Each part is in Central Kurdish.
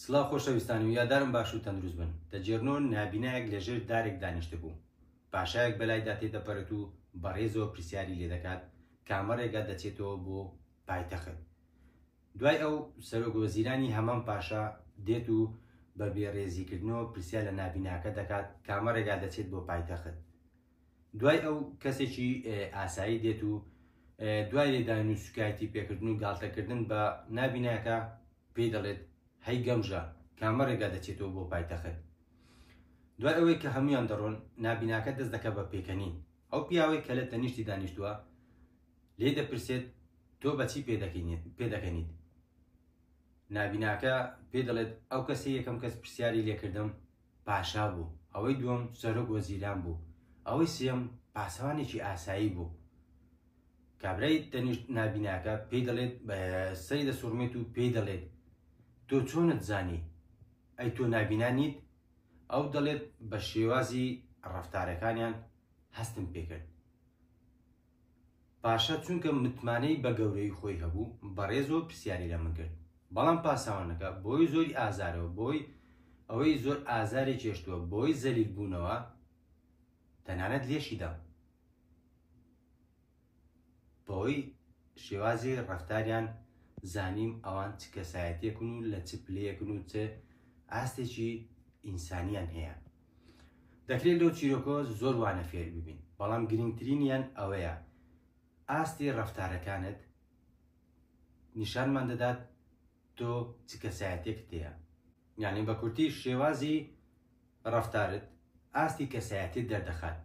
سڵاو خۆشەویستان و یادارم باش و تەندروست بن دەجێرنۆ نابینایەک لە ژێر دارێک دانیشتبوو پاشایەک بەلایدا تێدەپەرێت و بە ڕێزەوە پرسیاری لێدەکات کامە ڕێگا دەچێتەوە بۆ پایتەخت دوای ئەو سەرۆک وەزیرانی هەمان پاشا دێت و بە بێڕێزیکردنەوە پرسیار لە نابیناکە دەکات کامە ڕێگا دەچێت بۆ پایتەخت دوای ئەو کەسێکی ئاسایی دێت و دوای لێدان و سوکایەتی پێکردن و گاڵتەکردن بە نابیناکە پێی دەڵێت هەی گەمژە کامە ڕێگا دەچێتەوە بۆ پایتەخت دوای ئەوەی کە هەمویان دەڕۆن نابیناکە دەست دەکە بە پێکەنین ئەو پیاوەی کە لە تەنیشتی دانیشتووە لێ دەپرسێت تۆ بەچی پێدەکەنیت نابیناکە پێ دەڵێت ئەو کەسی یەکەم کەس پرسیاری لێکردم پاشا بوو، ئەوەی دووەم سەرۆک وەزیران بوو، ئەوەی سێیەم پاسەوانێکی ئاسایی بوو. کابرای تەنیشت نابیناکە پێی دەڵێت سەری دەسوڕمێت و پێی دەڵێت تۆ چۆنت زانی؟ ئەی تۆ نابینا نیت؟ ئەو دەڵێت بە شێوازی ڕەفتارەکانیان هەستم پێکرد. پاشا چونکە متمانەی بە گەورەیی خۆی هەبوو، بەڕێزەوە پرسیاری لە من کرد. بەڵام پاساوانەکە، بەهۆی زۆری ئازارەوە، بەهۆی ئەوەی زۆر ئازاری چێشتووە، بەهۆی زەلیلبوونەوە، تەنانەت لێشی دام. بەهۆی شێوازی ڕەفتاریان زانیم ئەوان چ کەسایەتیەکن و لە چ پلەیەکن و چ ئاستێکی ئینسانیان هەیە. دەکرێت لەو چیرۆکەوە زۆر وانە فێر ببین، بەڵام گرنگترینیان ئەوەیە ئاستی ڕەفتارەکانت نیشانمان دەدات تۆ چ کەسایەتێکت هەیە. یانی بە کورتی شێوازی ڕەفتارت ئاستی کەسایەتیت دەردەخات.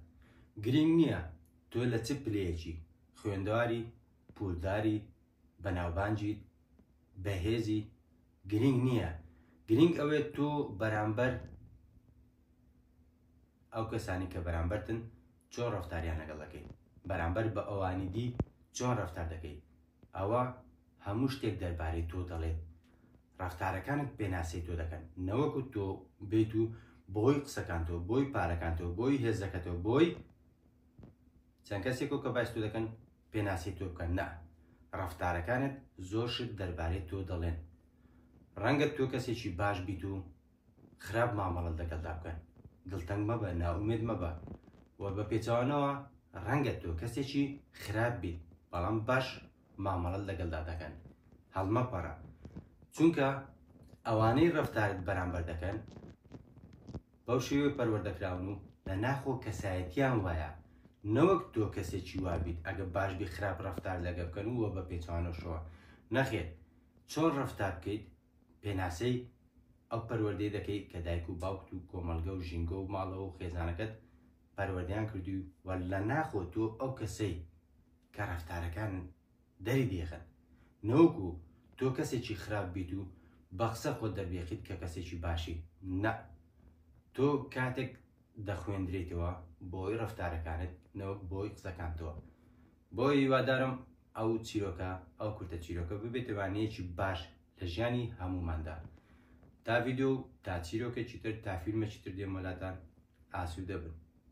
گرنگ نییە تۆ لە چ پلەیەکی خوێندەواری، پوولداری، بەناوبانجیت بەهێزیت گرینگ نییە گرینگ ئەوێت تۆ بەرامبەر ئەو کەسانی کە بەرامبەرتن چۆن ڕفتاریان لەگەڵ دەکەیت بەرامبەر بە ئەوانی دی چۆن ڕفتار دەکەیت ئەوە هەموو شتێک دەربارەی تۆ دەڵێت ڕفتارەکانت پێناسی تۆ دەکەن نەوەکو تۆ بێت و بۆی قسەکانتەوە بۆی پارەکانتەوە بۆی هێزەکەتەوە بۆی چەند کەسێکەوە کە باستو دەکەن پێناسی تۆ بکەن نا ڕەفتارەکانت زۆر شت دەربارەی تۆ دەڵێن ڕەنگە تۆ کەسێکی باش بیت و خراپ مامەڵەت لەگەڵدا بکەن دڵتەنگ مەبە نائومێد مەبە و بە پێچەوانەوە ڕەنگە تۆ کەسێکی خراپ بیت بەڵام باش مامەڵەت لەگەڵدا دەکەن هەڵمەپەڕە چونکە ئەوانەی ڕەفتارت بەرامبەر دەکەن بەو شێوەیە پەروەردە کراون و لە ناخۆ کەسایەتیان وایە نەوەک تۆ کەسێکی وا بیت ئەگە باش بی خراپ ڕەفتار لەگە بکەن و وە بە پێچەوانەشەوە نەخێر چۆن ڕەفتار بکەیت پێناسەی ئەو پەروەردەی دەکەیت کە دایک و باوکت و کۆمەڵگە و ژینگە و ماڵەوە و خێزانەکەت پەروەردەیان کردووی و لە ناخۆ تۆ ئەو کەسەی کە ڕەفتارەکان دەری دەیخەن نەوەکو تۆ کەسێکی خراپ بیت و بە قسە خۆت دەربێخیت کە کەسێکی باشی نە تۆ کاتێک دەخوێندرێتەوە بۆی ڕفتارەکانت نەوەک بۆی قسەکانتەوە بۆ هیوادارم ئەو چیرۆکە ئەو کورتە چیرۆکە ببێتەوانەیەکی باش لە ژیانی هەموماندا تا ڤیددیو تا چیرۆکێکی تر تا فیلمێکی تر دێمەلاتان ئاسوودە بن